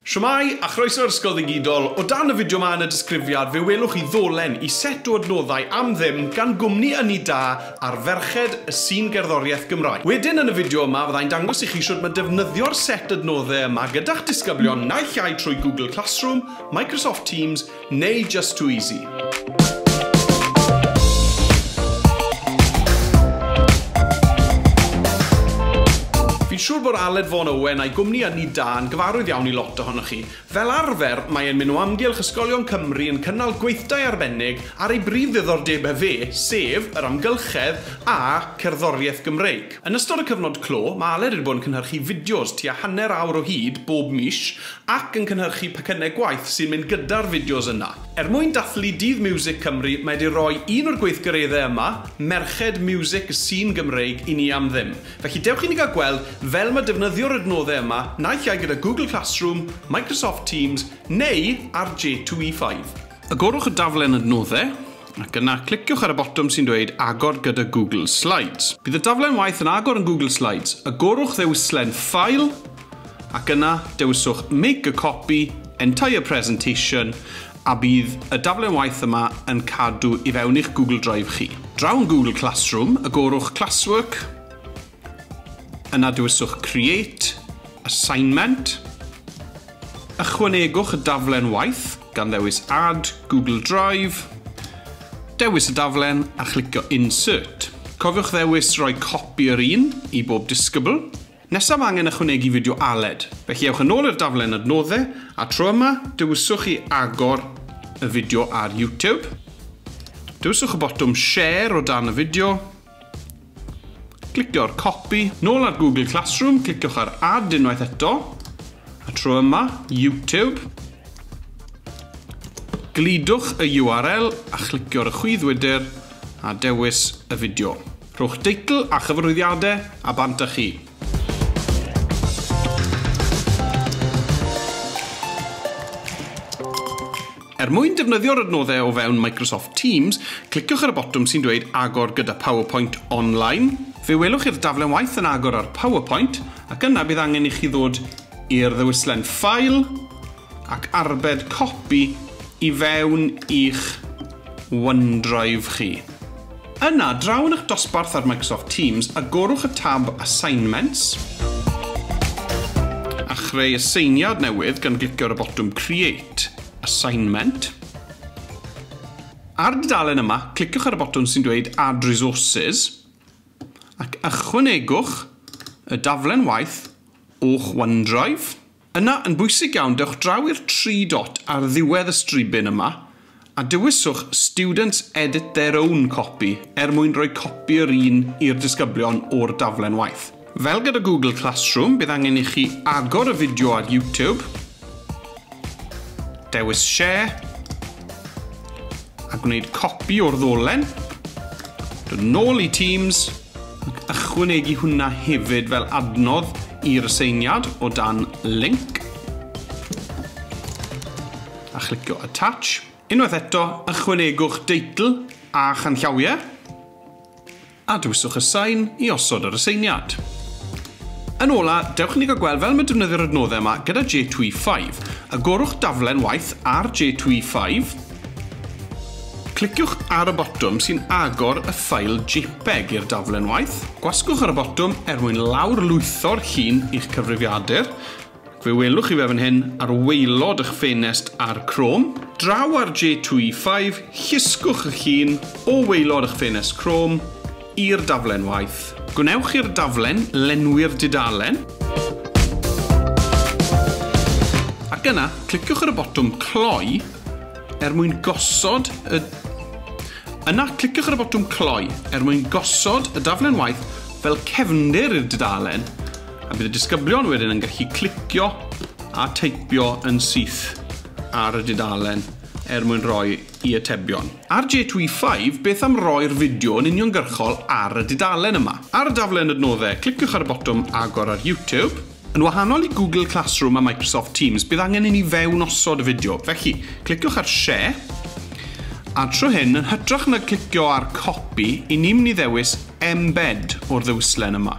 Shwmae, a chroeso i'r Ysgol Ddigidol. O dan y fideo 'ma yn y disgrifiad fe welwch chi ddolen i set o adnoddau am ddim gan gwmni ynni da ar ferched y sîn gerddoriaeth Gymraeg. Wedyn yn y fideo yma fydda i'n dangos i chi shwd ma defnyddio'r set adnodde yma gyda'ch disgyblion naill ai trwy Google Classroom, Microsoft Teams, Neu Just Too Easy? Fi'n siŵr bod Aled Vaughan Owen a'i gwmni a Ni Da yn gyfarwydd iawn i lot ohonoch chi. Fel arfer, mae e'n mynd o amgylch ysgolion Cymru yn cynnal gweithdai arbennig ar ei brif ddiddordebau fe, sef yr amgylchedd a cerddoriaeth Gymreig. Yn ystod y cyfnod clo, mae Aled wedi bod yn cynhyrchu fideos tua hanner awr o hyd bob mis Ac yn cynhyrchu pecynnau gwaith sy'n mynd gyda'r fideos yna. Er mwyn dathlu Dydd Miwsig Cymru, mae 'di roi un o'r gweithgareddau yma, Merched Miwsig y Sîn Gymreig, i ni am ddim. Felly dewch i ni gael gweld fel mae defnyddio'r adnoddau yma, naill ai gyda Google Classroom, Microsoft Teams, neu ar J2E5. Agorwch y daflen adnoddau, ac yna cliciwch ar y botwm sy'n dweud Agor gyda Google Slides. Bydd y daflen waith yn agor yn Google Slides. Agorwch ddewislen File, Ac yna, dewiswch Make a Copy, Entire Presentation, a bydd y daflen waith yma yn cadw i fewn i'ch Google Drive chi. Draw yn Google Classroom, agorwch Classwork, yna dewiswch Create, Assignment, ychwanegwch y daflen waith gan ddewis Add, Google Drive, dewis y daflen a chlicio Insert. Cofiwch ddewis roi copi yr un i bob disgybl. Nesaf angen ychwanegu fideo Aled, felly ewch yn ôl i'r daflen adnoddau, a tro yma, dewiswch chi agor y fideo ar YouTube. Dewiswch y botwm Share o dan y fideo. Clicio ar Copy. Nôl ar Google Classroom, cliciwch ar Add unwaith eto, a tro yma, YouTube. Glidwch y URL a chlicio'r y chwydd wydr a dewis y fideo. Rhowch deitl a chyfarwyddiadau a bant â chi. Er mwyn defnyddio'r adnoddau o fewn Microsoft Teams, cliciwch ar y botwm sy'n dweud Agor gyda PowerPoint Online. Fe welwch chi'r daflen waith yn agor ar PowerPoint ac yna bydd angen i chi ddod i'r ddewislen Ffail ac arbed copi i fewn i'ch OneDrive chi. Yna, draw yn eich dosbarth ar Microsoft Teams, agorwch y tab Assignments, a chreu aseiniad newydd gan glicio ar y botwm Create, Assignment. Ar y dudalen yma, cliciwch ar y botwm sy'n dweud Add Resources, ac ychwanegwch y daflen waith o'ch OneDrive. Yna, yn bwysig iawn, dewch draw i'r tri dot ar ddiwedd y stribyn yma a dewiswch 'Students edit their own copy' er mwyn rhoi copi yr un i'r disgyblion o'r daflen waith. Fel gyda Google Classroom, bydd angen i chi agor y fideo ar YouTube, dewis 'Share' a gwneud copi o'r ddolen, dod nôl i Teams, Ychwanegu hwnna hefyd fel adnodd i'r aseiniad o dan linc a chlicio Attach. Unwaith eto, ychwanegwch deitl a chanllawiau a dewiswch Assign i osod yr aseiniad. Yn ola, dewch i ni gael gweld fel mae defnyddio'r adnoddau yma gyda J2E5. Agorwch daflen waith ar J2E5. Cliciwch ar y botwm sy'n agor y ffail jpeg i'r daflen waith. Gwasgwch ar y botwm er mwyn lawr-lwytho'r llun i'ch cyfrifiadur, ac fe welwch chi fe fan hyn ar waelod eich ffenest ar Chrome. Draw ar J2E5, llusgwch y llun o waelod eich ffenest Chrome, i'r daflen waith. Gwnewch i'r daflen lenwi'r dudalen, ac yna cliciwch ar y botwm Cloi er mwyn gosod y Yna cliciwch ar y botwm Cloi er mwyn gosod y daflen waith fel cefndir i'r dudalen, a bydd y disgyblion wedyn yn gallu clicio a teipio yn syth ar y dudalen er mwyn rhoi i atebion. RJTweefive Beth am roi'r fideo yn uniongyrchol ar y dudalen yma? Ar y daflen adnoddau, cliciwch ar y botwm agor ar YouTube. Yn wahanol i Google Classroom a Microsoft Teams, bydd angen i ni fewnosod y fideo, felly, cliciwch ar Share, a tro hyn, yn hytrach na glicio ar Copy, 'y ni'n mynd i ddewis Embed o'r ddewislen yma.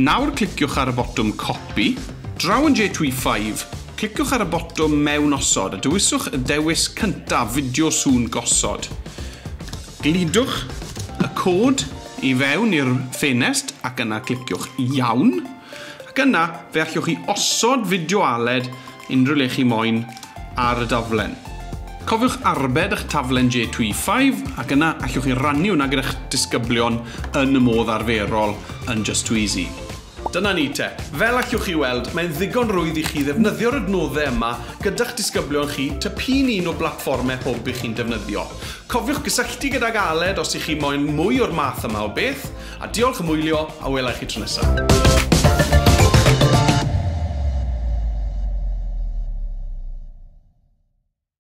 Nawr cliciwch ar y botwm Copy, Draw yn J25, cliciwch ar y botwm Mewn Osod a dewiswch y dewis cyntaf, Fideo Sŵn Gosod. Gludwch y cod i fewn i'r ffenest ac yna cliciwch Iawn, ac yna fe allwch chi osod fideo aled Unrhyw le chi moyn ar y daflen. Cofiwch arbed â'ch taflen JTweeFive ac yna allwch chi rannu hwnna gyda'ch disgyblion yn y modd arferol yn Just Too Easy. Dyna ni te. Fel allwch chi weld, mae'n ddigon rwydd i chi ddefnyddio'r adnoddau yma gyda'ch disgyblion chi ta p'un un o blatfformau hwb i chi'n defnyddio. Cofiwch gysylltu gydag Aled os y'ch chi moyn mwy o'r math yma o beth. A diolch am wylio a wela i chi tro nesa.